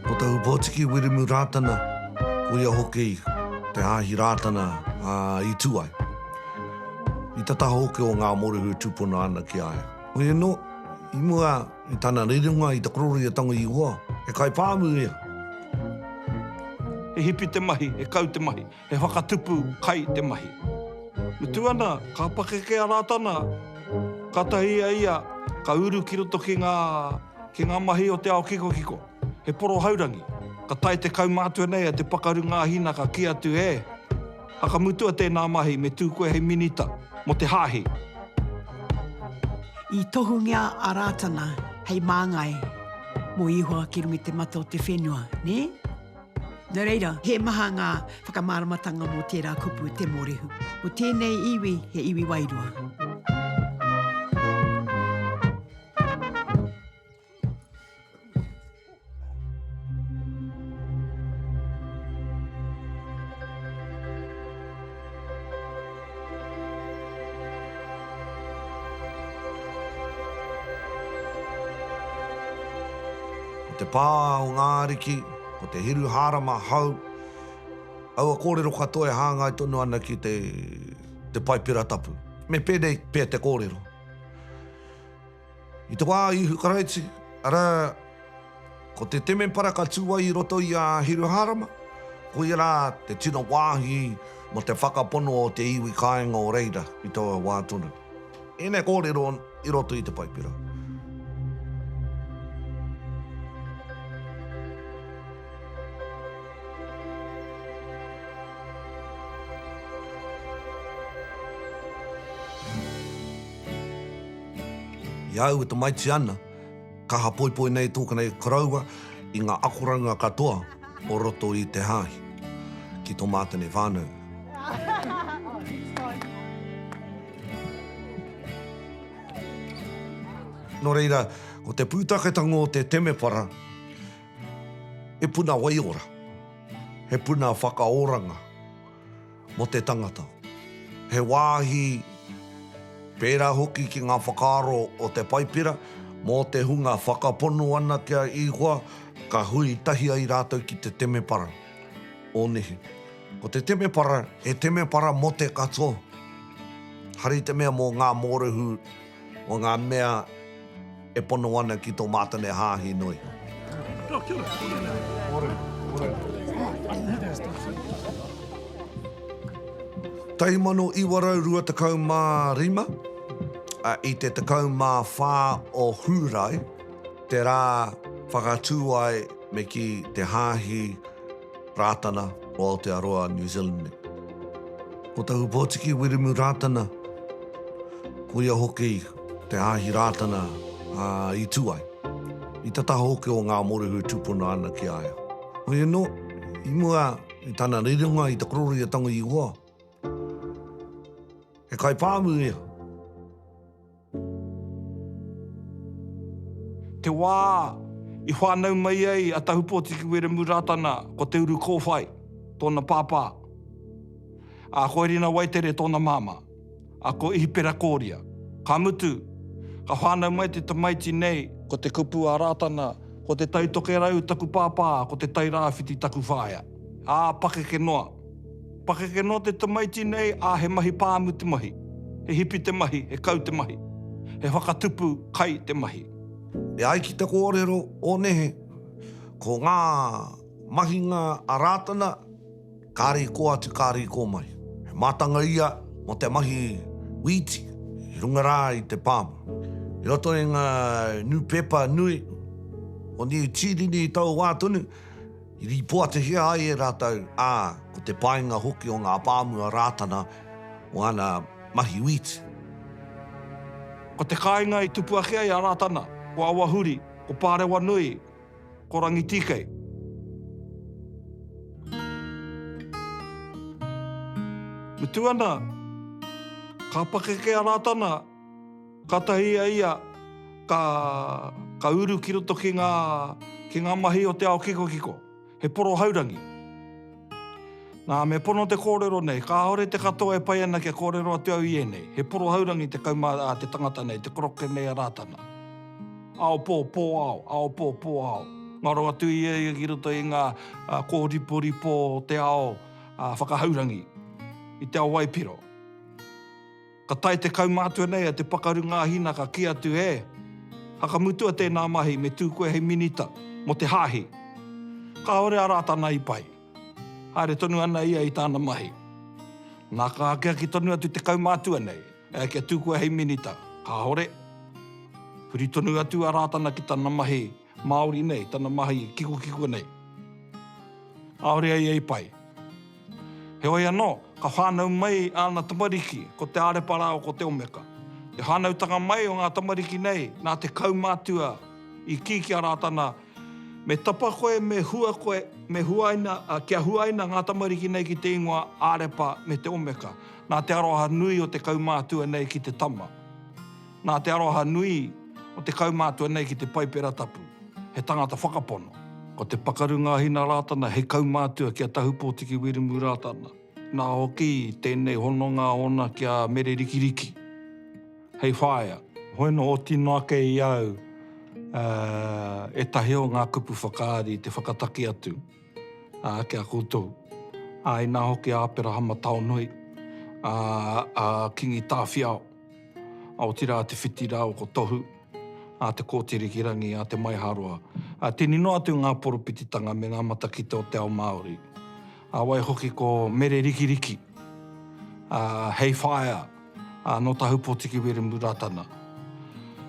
Ko Te Ūpōtiki Wiremu Rātana, ko ia hoki Te Hāhi Rātana a Ituai. I tata hoki o Ngā Morehu e tūpono ana ki a ia. Hoi anō, i mua i tana rerenga i te kororī a Tango Ihoa, he kaipāmu ia. He hipi te mahi, he kau te mahi. He whakatupu kai te mahi. Mutu ana, ka pakeke a Rātana, ka tahi a ia, ka uru ki roto ki ngā, ki ngā mahi o te ao kikokiko. He poro haurangi. Ka tae te kaumātua nei a Te Pakaru Ngāhina ka kī atu e, Hakamutua tēnā mahi, me tū koe hei minita mō te hāhi. I tohungia a Rātana hei māngai mō Ihoa ki runga i te mata o te whenua, nē? Nō reira, he maha ngā whakamāramatanga mō tērā kupu te mōrehu. Ko tēnei iwi he iwi wairua. Ko te pā o ngā ariki. Ko te Hiruhārama hau, aua kōrero katoa e hāngai tonu ana ki te Paipera Tapu. Me pēnei pea te kōrero. I te wā a Ihu Karaiti, arā, ko te temepara ka tū ai i roto i a Hiruhārama, koia rā te tino wāhi mō te whakapono o te iwi kāinga o reira i taua wā tonu. Ēnei kōrero i roto i te Paipera. I au e tamaiti ana, Kaha poipoi nei tōkena i koroua i ngā akoranga katoa o roto i te hāhi. Ki tō mātene whānau. Nō reira, ko te pūtaketanga o te temepara, he puna waiora, he puna whakaoranga. mō te tangata. He wāhi pērā hoki ki ngā whakaaro o te Paipera mō te hunga whakapono ana ki a Ihoa ka hui tahi ai rātou ki te temepara o nehe. Ko te temepara, he temepara mō te katoa, hari te mea mō ngā mōrehu. o ngā mea e pono ana ki tō mātane hāhi nohi. Tahi mano iwa rau rua tekau mā rima, i te tekau mā whā o Hūrae, te rā whakatū ai me kī te hāhi, Rātana o Aotearoa, New Zealand me. Ko Tahu Pōtiki Wiremu Rātana, ko ia hoki te hāhi Rātana i tū ai. I tata hoki o Ngā Morehu e tūpono ana ki a ia. Hoi anō, i mua i tana rerenga i te korero i a Tango Ihoa, he kaipāmu ia. Te wā i whānau mai ai a Tahupōtiki Wiremu Rātana ko Te Uru Kōwhai tōna pāpā, ā, ko Erina Waitere tōna māmā, ā, ko Ihipera Kōria. Ka mutu, ka whānau mai te tamaiti nei. Ko te kupu a Rātana, Ko Te Tai Tokerau taku pāpā, ko Te Tai Rāwhiti taku whaea, ā, pakeke noa. Pakeke noa te tamaiti nei, ā, he mahi pāmu te mahi. He hipi te mahi, he kau te mahi. He whakatupu kai te mahi. E ai ki te kōrero o nehe, ko ngā mahinga a Rātana, kāre i kō atu, kāre i kō mai. He mātanga ia mō te mahi wīti i runga rā i te pāmu. I roto i ngā nūpepa nui o Niu Tīreni i taua wā tonu, I rīpoatihia ai e rātou, ā, ko te painga hoki o ngā pāmu a Rātana o ana mahi wīti. Ko te kāinga i tupu ake ai a Rātana, ko Awahuri, ko Pārewanui, ko Rangitīkei. Mutu ana, ka pakeke a Rātana, Kātahi a ia ka, ka uru ki roto ki ngā, ki ngā mahi o te ao kikokiko. He poro haurangi. Nā, me pono te kōrero nei, kāore te katoa e pai ana kia kōrero atu au i ēnei. He poro haurangi te kaumā, ā, te tangata nei, te koroke nei a Rātana. Ao pō, pō ao, ao pō, pō ao. Ngaro atu ia ia ki roto i ngā, ā, kōriporipo o te ao, ā, whakahaurangi, i te ao waipiro. Ka tae te kaumātua nei a Te Pakaru Ngāhina ka kī atu e, Whakamutua tēnā mahi me tū koe hei minita mō te Hāhi. Kāore a Rātana i pai. Haere tonu ana ia i tāna mahi. Nā ka akiaki tonu atu te kaumātua nei, ea kia tū koe hei minita. Kāore. Huri tonu atu a Rātana ki tana mahi. Māori nei, tana mahi kikokiko nei. Kāore ai e pai. Heoi anō, ka whānau mai āna tamariki, ko Te Ārepa rāua ko Te Omeka. Te whānautanga mai o ngā tamariki nei, nā te kaumātua i kī ki a Rātana, Me tapa koe, me hua koe, me huaina, ā, kia huaina ngā tamariki nei ki te ingoa Ārepa me Te Omeka, nā te aroha nui o te kaumātua nei ki te tama. Nā te aroha nui o te kaumātua nei ki te Paipera Tapu, he tangata whakapono. Ko Te Pakaru Ngāhina Rātana hei kaumātua ki a Tahupōtiki Wiremu Rātana, nā hoki tēnei hononga ōna ki a Mere Rikiriki hei whaea. Hoi nō oti noa kē i a au ētahi o ngā kupu whakaari te whakataki atu. ā, ki a koutou, ā, inā hoki a Aperahama Taonui, ā, a Kingi Tāwhiao, ā, otirā a Te Whiti rāua ko Tohu, ā, Te Kooti Rikirangi, ā, Te Maiharoa, ā, tini noa atu ngā poropititanga me ngā matakite o te ao Māori, ā, waihoki ko Mere Rikiriki, ā, Hei Whaea, Ā, nō Tahupōtiki Wiremu Rātana,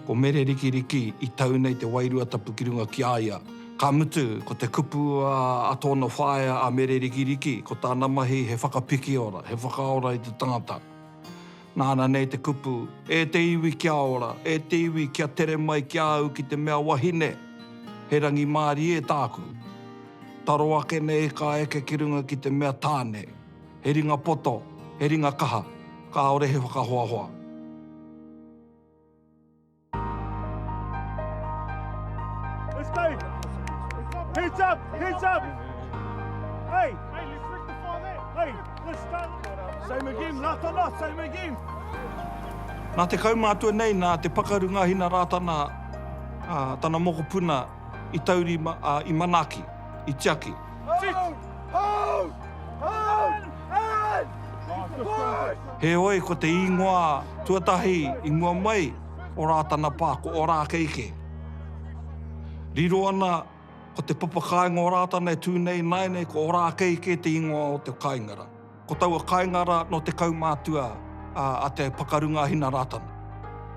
ko Mere Rikiriki i tau nei te Wairua Tapu ki runga ki a ia. Ka mutu, ko te kupu a tōna whaea a Mere Rikiriki, ko tāna mahi he whakapikiora, he whakaora i te tangata. Nāna nei te kupu, E te iwi kia ora, e te iwi kia tere mai ki a au ki te mea wahine, he rangimārie tāku. Taro ake nei kā eke ki runga ki te mea tāne. He ringa poto, he ringa kaha, kāore he whakahoahoa. Nā te kaumātua nei, nā Te Pakaru Ngāhina Rātana, tana mokopuna, i taurima, ā, i manaaki, i tiaki. Heoi, ko te īngoa tuatahi i mua mai o Rātana Pā, ko Orākeikē. Riro ana, ko te papakāinga o Rātana e tū nei ināianei ko Orākeikē te īngoa o te kāinga rā. Ko taua kāinga rā nō te kaumātua a Te Pakarunga-a-Hina Rātana.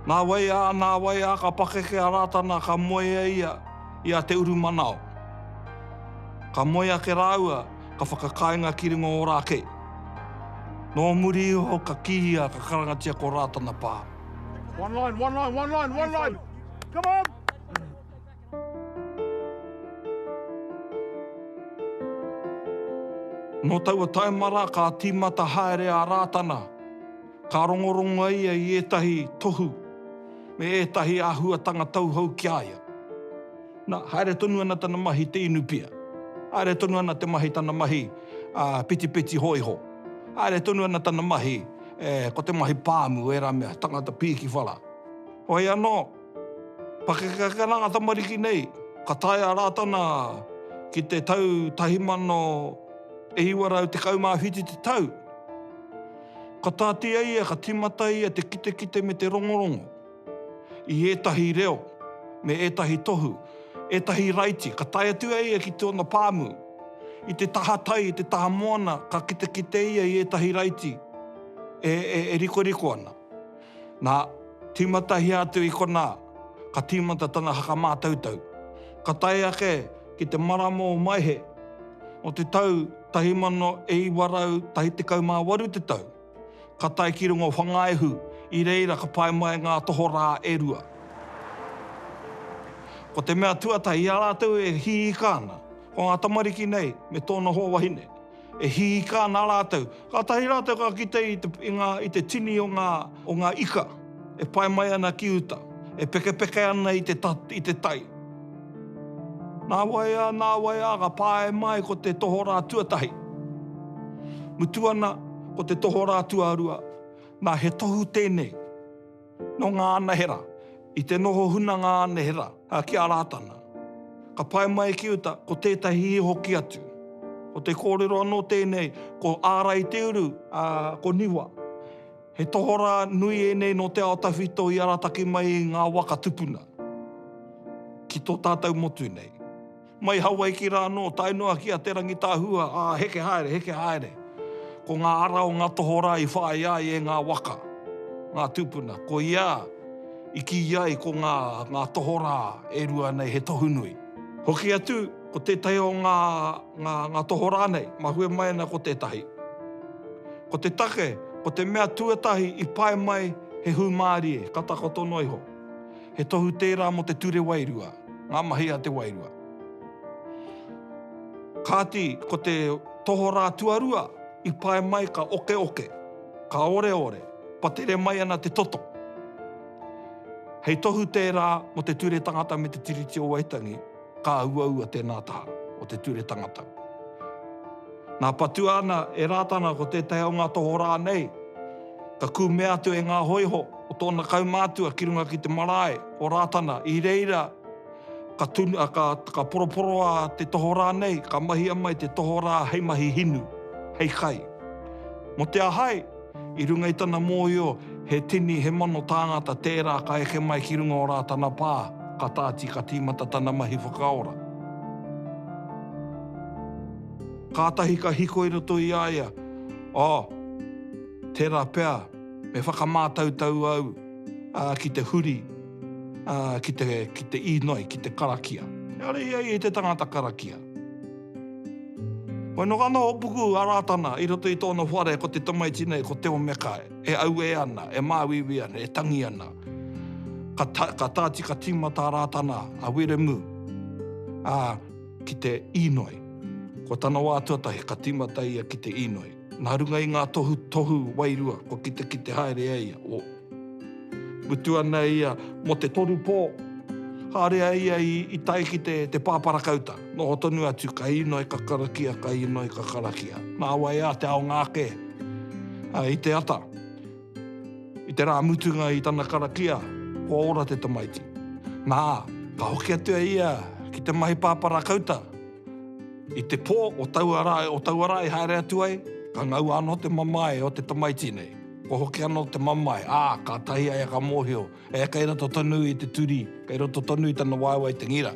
Nā wai ā, nā wai ā ka pakeke a Rātana ka moe e ia i a Te Urumanao. Ka moe ake rāua ka whakakāinga ki runga Ōrākei. Nō muri iho ka kīia ka karangatia ko Rātana pā. One line, one line, one line, one line! Come on! Nō taua taima rā ka tīmata haere a Rātana, ka rongorongoa ia i ētahi tohu me ētahi āhuatanga tauhou ki a ia. Nā, haere tonu ana tana mahi i te inu pia. Haere tonu ana te mahi tana mahi petipeti hōiho. Haere tonu ana tana mahi, ko te mahi pāmu, ērā mea, tangata pīkiwhara. Hoi anō. Pakeke ana ngā tamariki nei, ka tae a Rātana ki te tau 1917 te tau. Ka tāti a ia, ka tīmata ia te kitekite me te rongorongo i ētahi reo me ētahi tohu, ētahi raiti. Ka tae atu a ia ki tōna pāmu. I te taha tai, i te taha moana, ka kitekite ia i ētahi raiti e rikoriko ana. Nā, tīmatahia atu i konā, ka tīmata tana whakamātautau. Ka tae ake ki te marama o Maehe o te tau 1918 te tau, ka tae ki runga o Whangaehu, i reira ka pae mai ngā tohorā e rua. Ko te mea tuatahi i a rātou e hiika ana, ko ngā tamariki nei me tōna hoa wahine. E hiika ana rātou. Kātahi rātou ka kite i te, i ngā, i te tini o ngā, o ngā ika e pae mai ana ki uta, e pekepeke ana i te, i te tai. Nāwai ā, nāwai ā, ka pae mai ko te tohorā tuatahi. Mutu ana, ko te tohorā tuarua. Nā, he tohu tēnei. Nō ngā anahera, i te noho huna ngā anahera ki a Rātana. Ka pae mai ki uta ko tētahi hoki atu. Ko te kōrero anō tēnei ko Ārai Te Uru, ā, ko Niwa. He tohorā nui ēnei nō te ao tawhito i arataki mai i ngā waka tupuna ki tō tātou motu nei. Mai Hawaiki rā anō, tae noa ki a Te Rangitahua, ā, heke haere, heke haere. Ko ngā ara o ngā tohorā i whāia ai e ngā waka, ngā tūpuna. Ko ia i kī ai ko ngā, ngā tohorā e rua nei he tohu nui. Hoki atu, ko tētahi o ngā, ngā, ngā tohorā nei, mahue mai ana ko tētahi. Ko te take, ko te mea tuatahi i pae mai he hūmārie, ka takoto noa iho. He tohu tērā mō te ture wairua, ngā mahi a te wairua. Kāti, ko te tohorā tuarua i pae mai ka okeoke, ka oreore, patere mai ana te toto. Hei tohu tērā mō te ture tangata me te Tiriti o Waitangi. ka auaua tēnā taha o te ture tangatau. Nā patua ana e Rātana ko tētahi o ngā tohorā nei, ka kūmea atu e ngā hōiho o tōna kaumātua ki runga ki te marae o Rātana, i reira ka tunu, ā, ka, ka poroporoa te tohorā nei, ka mahia mai te tohorā hei mahi hinu, hei kai. Mō te ahai, I runga i tana mōhio, he tini, he mano tāngata tērā ka eke mai ki runga o Rātana Pā, ka tāti, ka tīmata tana mahi whakaora. Kātahi ka hiko i roto i a ia, Oh, tērā pea, me whakamātautau au ki te huri, ki te inoi, ki te karakia. Ehara ia i te tangata karakia. Kua noho ana Hopuku a Rātana i roto i tōna whare ko te tamaiti nei ko Teo Meka e auē ana, e māuiui ana, e tangi ana. Ka tāti ka tīmata a Rātana, a Wiremu, ā, ki te Īnoi. Ko tana wā tuatahi ka tīmata ia ki te Īnoi. Nā runga i ngā tohutohu wairua kua kitekite haere e ia, o. Mutu ana ia mō te toru pō, haere a ia i tae ki te pāparakauta. Noho tonu atu, ka inoi, ka karakia, ka inoi, ka karakia. Nā wai ā te aonga ake i te ata. I te rā mutunga i tana karakia, kua ora te tamaiti. Nā, ka hoki atu a ia ki te mahi pāparakauta. I te pō o taua rā, o taua rā i haere atu ai, ka ngaua anō te mamae o te tamaiti nei. Kua hoki anō te mamae, ā, kātahi a ia ka mōhio, e, kei roto tonu i te turi, kei roto tonu i tana waewae te ngira.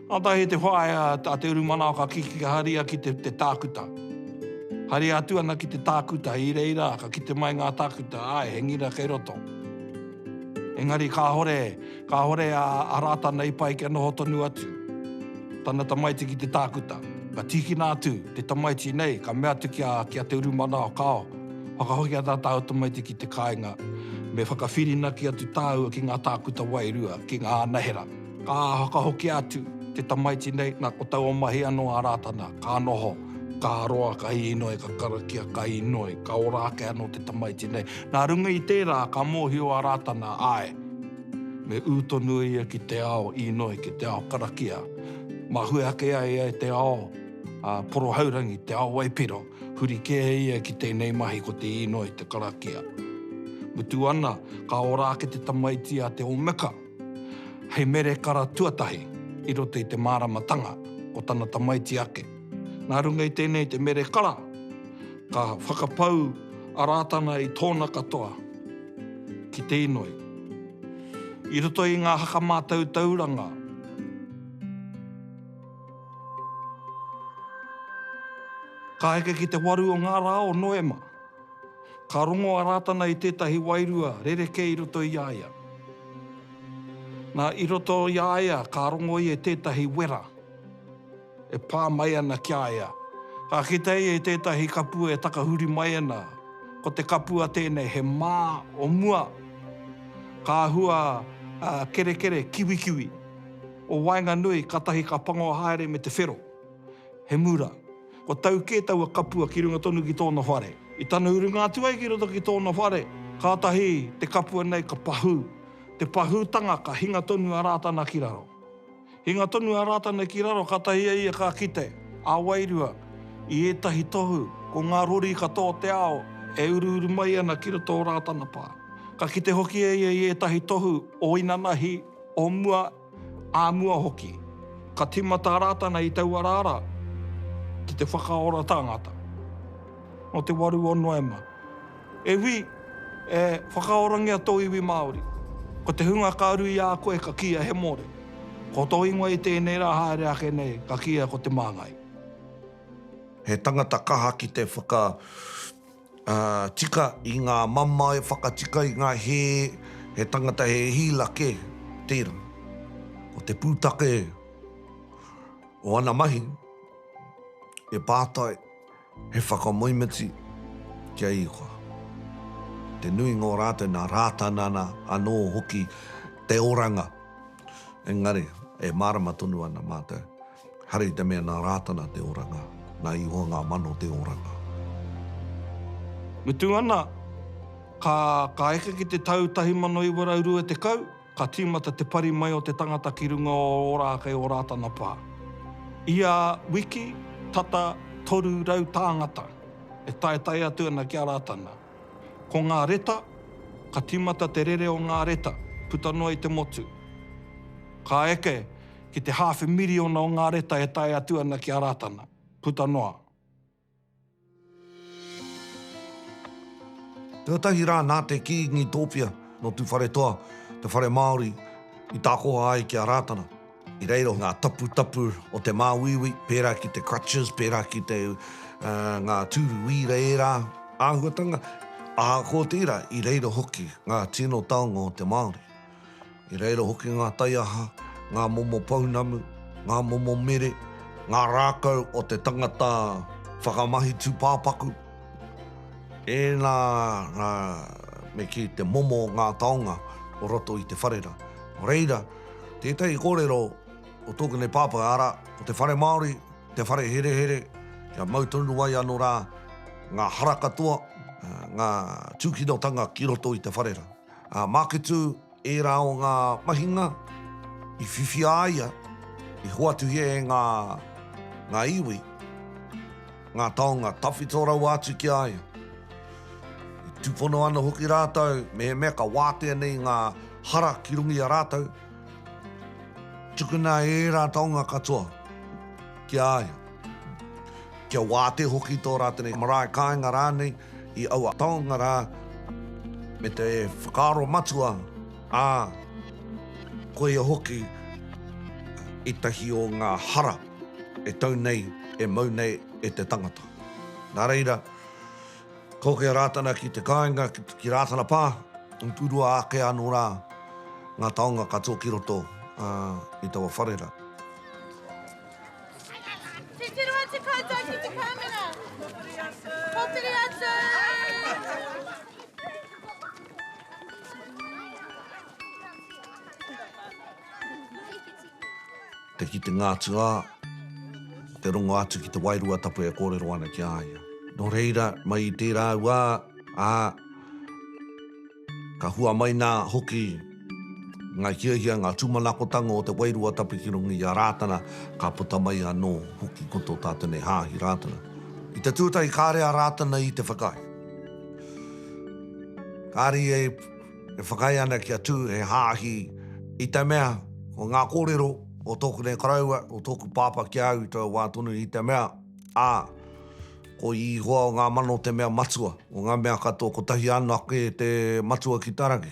Kātahi i te whaea a Te Urumanawa ka kiki ka haria ki te, te tākuta. Haria atu ana ki te tākuta, i reira ka kite mai ngā tākuta, āe, he ngira kei roto. Engari kāore, Kāore a Arata nei pai kia noho tonu atu tana tamaiti ki te tākuta. Ka tīkina atu te tamaiti nei, ka mea atu ki a, ki a Te Urumanao, Kāo, whakahoki a tā tāu tamaiti ki te kāinga, me whakawhirinaki atu tāua ki ngā tākuta wairua, ki ngā anahera. Ka whakahokia atu te tamaiti nei, nā, ko taua mahi anō a Rātana, ka noho, ka roa, ka inoi, ka karakia, ka inoi, ka ora ake anō te tamaiti nei. Nā runga i tērā, ka mōhio a Rātana, āe, Me ū tonu ia ki te ao īnoi, ki te ao karakia. Mahue ake ai ia e te ao porohaurangi, te ao waipiro, huri kē ia ki tēnei mahi ko te īnoi, te karakia. Mutu ana, ka ora ake te tamaiti a Te Omeka hei mere kara tuatahi i roto i te māramatanga o tana tamaiti ake. Nā runga i tēnei te mere kara, ka whakapau a Rātana i tōna katoa. ki te inoi. I roto i ngā haka mātautauranga, ka heke ki te waru o ngā rā o Noema, ka rongo a Rātana i tētahi wairua rerekē i roto i a ia. Nā, i roto i a ia ka rongo ia i tētahi wera. e pā mai ana ki a ia. Ka kitea ia i tētahi kapua e takahuri mai ana, ko te kapua tēnei he mā o mua, ka hua kerekere kiwikiwi o waenganui katahi ka pango haere me te whero, he mura. Kua tau kē taua kapua ki runga tonu ki tōna whare. I tana urunga atu ai ki roto ki tōna whare, kātahi te kapua nei ka pahū. Te pahūtanga ka hinga tonu a Rātana ki raro. Hinga tonu a Rātana ki raro kātahi a ia ka kite, ā wairua, i ētahi tohu, ko ngā rori ka tō te ao e uruuru mai ana ki roto o Rātana pā. Ka kite hoki a ia i ētahi tohu o inanahi, o mua, ā mua hoki. Ka tīmata a Rātana i taua rara ki te whakaora tāngata. Nō te waru o Noema. E Wī, e whakaorangia tō iwi Māori. Ko te hunga ka uru i a koe ka kīia he Mōre. Ko tō ingoa i tēnei rā haere ake nei ka kīia ko Te Māngai. He tangata kaha ki te whakatika i ngā mamae, whakatika i ngā hē, he tangata he hīla kē, tērā. Ko te pūtake o ana mahi, he pātai. He whakamoemiti ki a Ihowa. Te nuinga o rātou nā Rātanana anō hoki te oranga. Engari, e mārama tonu ana mātou, haere i te mea nā Rātana te oranga, nā Ihowa ngā mano te oranga. Mutu ana, ka eke ki te tau 1920, Ka tīmata te pari mai o te tangata ki runga o Ōrākei o Rātana Pā. Ia wiki, tata 300 tāngata e taetae atu ana ki a Rātana. Ko ngā reta, ka tīmata te rere o ngā reta, puta noa i te motu. Ka eke ki te hāwhe miriona o ngā reta e tae atu ana ki a Rātana, puta noa. Tuatahi rā nā te Kīngi Tōpia nō Tūwharetoa te whare Māori i tākoha ai ki a Rātana. I reira o ngā taputapu o te māuiui, pērā ki te crutches, pērā ki te ngā tūru wīra ērā āhuatanga, ahakoa tērā, i reira hoki ngā tino taonga o te Māori. I reira hoki ngā taiaha, ngā momo pounamu, ngā momo mere, ngā rākau o te tangata whakamahi tūpāpaku, ēnā rā me kī te momo o ngā taonga o roto i te whare rā. Nō reira, tētahi kōrero o tōku nei pāpā, arā, ko te whare Māori, te whare herehere, kia mau tonu ai anō rā ngā hara katoa, ngā tūkinotanga ki roto i te whare rā. Ā Māketu ērā o ngā mahinga i whiwhi a ia i hoatuhia e ngā, ngā iwi, ngā taonga tawhito rawa atu ki a ia. I tūpono ana hoki rātou mehemea ka wātea nei ngā hara ki runga i a rātou, Tukuna ērā taonga katoa ki a ia, kia wātea hoki tō rātou marae kāinga rānei i aua taonga rā, me te whakaaro matua, ā, koia hoki ētahi o ngā hara e tau nei, e mau nei e te tangata. Nā reira. Ko ke Rātana ki te kāinga, ki Rātana Pā, i purua ake anō rā ngā taonga katoa ki roto i taua whare rā. Titiro atu koutou ki te kāmera! Pōtiri atu! Te kitenga atu a, te rongo atu ki te wairua tapu e kōrero ana ki a ia. Nō reira, mai i tērā wā, ā, ka hua mai nā hoki ngā hiahia, ngā tūmanakotanga o te wairua tapu ki runga i a Rātana, ka puta mai anō hoki ko tō tātou nei hāhi Rātana. I te tuatahi kāre a Rātana i te whakaae. Kāre ia e e whakaae ana kia tū he hāhi i te mea ko ngā kōrero o tōku nei koroua, o tōku pāpā ki a au i taua wā tonu i te mea, ā, ko Ihoa o ngā mano te mea matua o ngā mea katoa, kotahi anake te matua ki tā raki.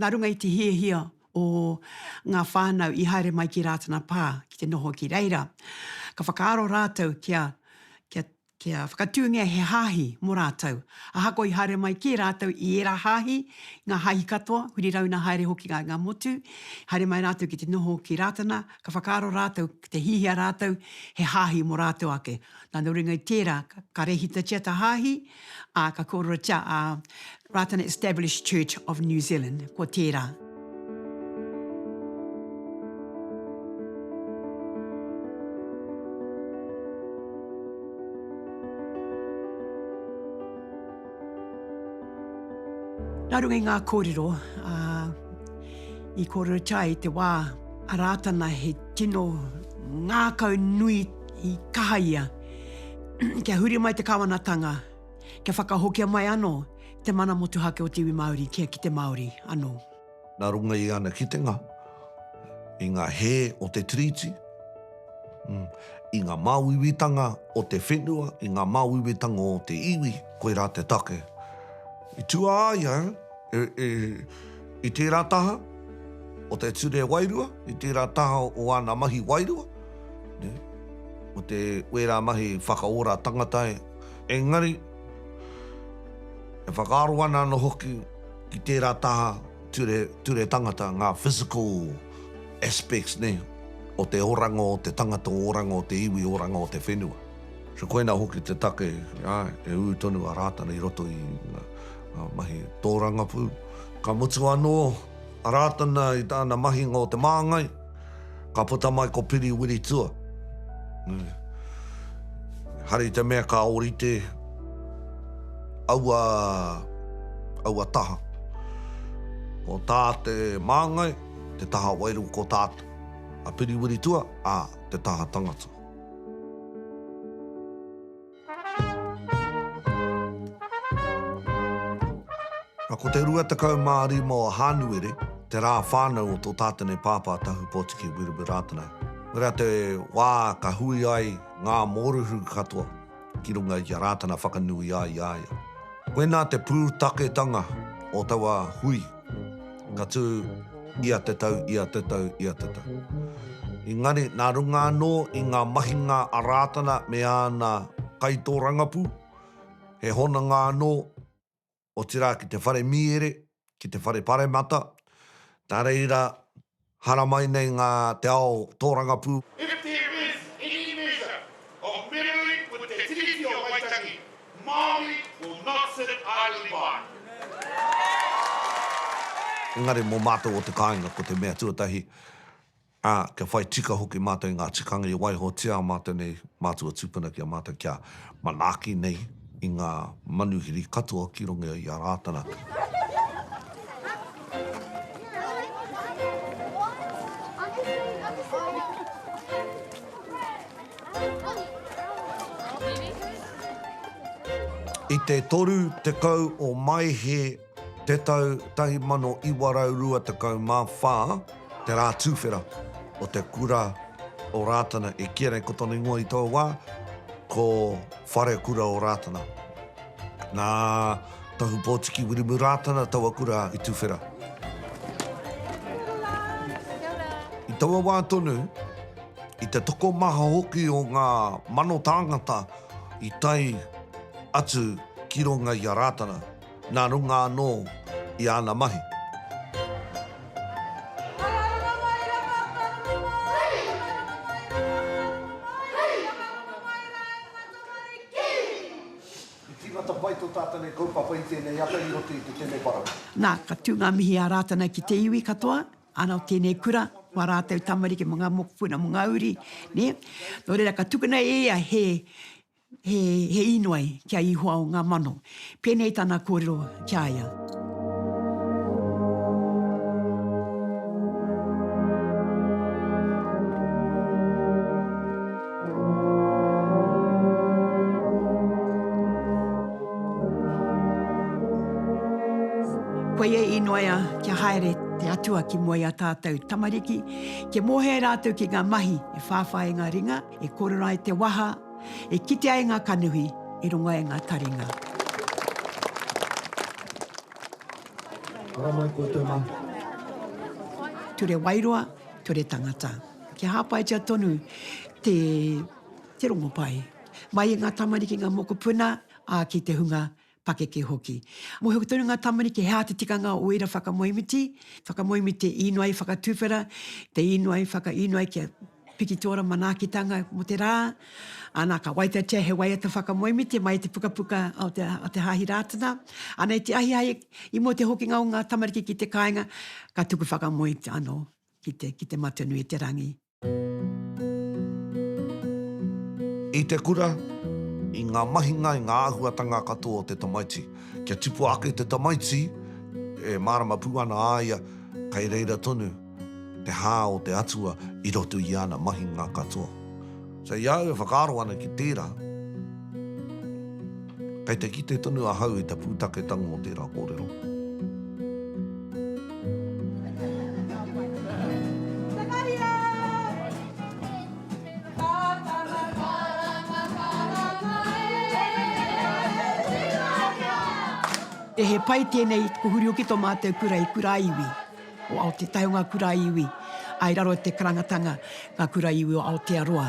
Nā runga i te hiahia o ngā whānau i haere mai ki Rātana Pā ki te noho ki reira, ka whakaaro rātou kia, kia, kia whakatūngia he hāhi mō rātou. Ahakoa i haere mai kē rātou i ērā hāhi, i ngā hāhi katoa, huri rauna haere hoki ngā, ngā motu, i haere mai rātou ki te noho ki Rātana, ka whakaaro rātou ki te hiahia rātou he hāhi mō rātou ake. Nā runga i tērā, ka rēhitatia tā hāhi, Ā, ka kōrerotia a Rātana Established Church of New Zealand, ko tērā. Nā runga i ngā kōrero, ā, i kōrerotia i te wā a Rātana he tino ngākau nui i kaha ia. kia huri mai te Kawanatanga, kia whakahokia mai anō te mana motuhake o te iwi Māori kia ki te Māori anō. Nā runga i ana kitenga i ngā hē o te Tiriti, i ngā māuiuitanga o te whenua, i ngā māuiuitanga o te iwi, koirā te take. I tū a ia i tērā taha o te ture wairua, i tērā taha o āna mahi wairua, o te wērā mahi whakaora tangata, engari e whakaaro ana anō hoki ki tērā taha ture, ture tangata, ngā physical aspects nei o te oranga o te tangata, o oranga o te iwi, oranga o te whenua. So koina hoki te take e ū tonu a Rātana i roto i ngā mahi tōrangapū. Ka mutu anō a Rātana i tāna mahinga o te māngai, ka puta mai ko Piri Wiritua. Hari te mea ka ōrite aua, aua taha. Ko tā te māngai, te taha wairua ko tātou. A Piri Wiritua, ā, te taha tangata. Nā, ko te 25 o Hānuere, te rā whānau o tō tātene pāpā Tahu Pōtiki Wiremu Rātana. Koirā rā te wā ka hui ai ngā mōrehu katoa ki runga i a Rātana whakanui ai i a ia. Koinā te pūtaketanga o taua hui. ka tū ia te tau, ia te tau, ia te tau. Engari, nā runga anō i ngā mahinga a Rātana me āna kaitōrangapū, he hononga anō, otirā ki te whare mīere, ki te whare paremata, nā reira, Haramai nei ngā te ao tōrangapū. If there is any measure of meddling with Te Tiriti o Waitangi, Māori will not sit idly by. Engari mō mātou o te kāinga ko te mea tuatahi, ā, kia whai tika hoki mātou i ngā tikanga i waihotia mātou nei mātua tūpuna ki a mātou kia. Manaaki nei i ngā manuhiri katoa ki runga i a Rātana. I te 30 o Maehe Te tau 1924, te rā tūwhera o te kura o Rātana i kīa nei ko tōna ingoa i tōu wā, ko Whare Kura o Rātana. Nā Tohu Pōtiki Wirimu Rātana taua kura i tūwhera. I taua wā tonu, i te tokomaha hoki o ngā mano tāngata i tae atu ki runga i a Rātana. Nā runga anō i āna mahi. I tīmata pai tō tātane kaupapa i tēnei ata i roto i te temepara. Nā, ka tū ngā mihi a Rātana ki te iwi katoa, ana o tēnei kura, mō ā rātou tamariki, mō ngā mokopuna, mō ngā uri, nē. Nō reira, ka tukuna e ia he. He, he inoi ki a Ihoa o nga mano. Penei tana korero ki a ia. Koia e inoia kia haere te Atua ki mua i a tatou tamariki, kia mohea e ratou ki nga mahi e whawhai i nga ringa, e korero ai te waha, E kite ai ngā kanohi i runga i ngā taringa. Ara mai koutou mā. Ture Wairoa, Ture Tangata. Kia hāpaitia tonu te te rongopai mai i ngā tamariki, ngā mokopuna, ā, ki te hunga pakeke hoki. Mōhio tonu ngā tamariki he aha te tikanga o ērā whakamoemiti, whakamoemiti te īnoi i whakatuwhera, te īnoi i whakaīnoi kia piki tō ora manaakitanga mō te rā, ā, nā, ka waitatia he waiata whakamoemiti mai i te pukapuka o te, o te Hāhi Rātana. Ā, nei te ahiahi i mua i te hokinga o ngā tamariki ki te kāinga, ka tuku whakamoe anō ki te, ki te Matenui i te Rangi. I te kura, i ngā mahinga, i ngā āhuatanga katoa o te tamaiti. Kia tipua ake te tamaiti, e mārama pū ana a ia kei reira tonu te hā o te Atua i roto i ana mahinga katoa. So i a au e whakaaro ana ki tērā, Kei te kite tonu ahau i te pūtaketanga o tērā kōrero. He pai tēnei i Puhuri Oki tō mātou kura i Kura Iwi o Aotetai o ngā kura iwi ā i raro i te karangatanga ngā kura iwi o Aotearoa.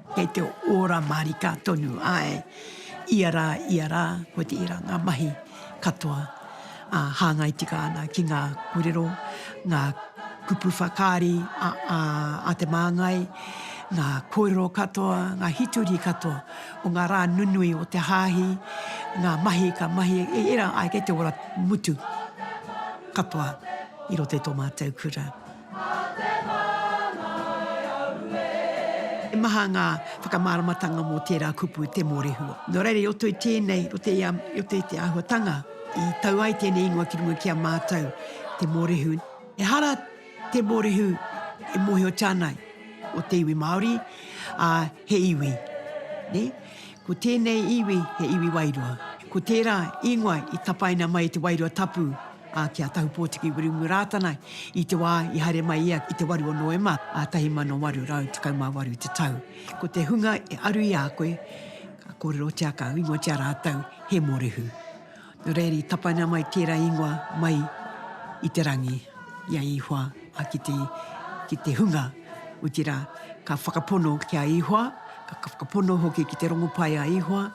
Kei te ora marika tonu, ae, ia ra, ia ra, ko tera nga mahi katoa a hangai tika ana ki nga korero, nga kupu whakaari a te Mangai, nga korero katoa, nga hitori katoa o nga ra nunui o te hahi, nga mahi ka mahi, era, ae, kei te ora mutu katoa i roto i to matou kura. He maha ngā whakamāramatanga mō tērā kupu te mōrehua. Nō reira, i roto i tēnei, i roto i te āhuatanga i tau ai tēnei ingoa ki runga ki a mātou, te mōrehu. Ehara te mōrehu e mōhiotia ana ko te iwi Māori, ā, he iwi, nē? Ko tēnei iwi he iwi wairua. Ko tērā ingoa i tapaina mai i te Wairua Tapu ā, ki a Tahupōtiki Wiremu Rātana i te wā i haere mai ia i te 8 o Noema 1818 i te tau. Ko te hunga e aru i a koe, ka kōrerotia, ka ingoatia rātou he mōrehu. Nō reira i tapaina mai tērā ingoa mai i te rangi, i a Ihoa, ā, ki te, ki te hunga, otirā, ka whakapono ki a Ihoa, ka whakapono hoki ki te rongopai a Ihoa,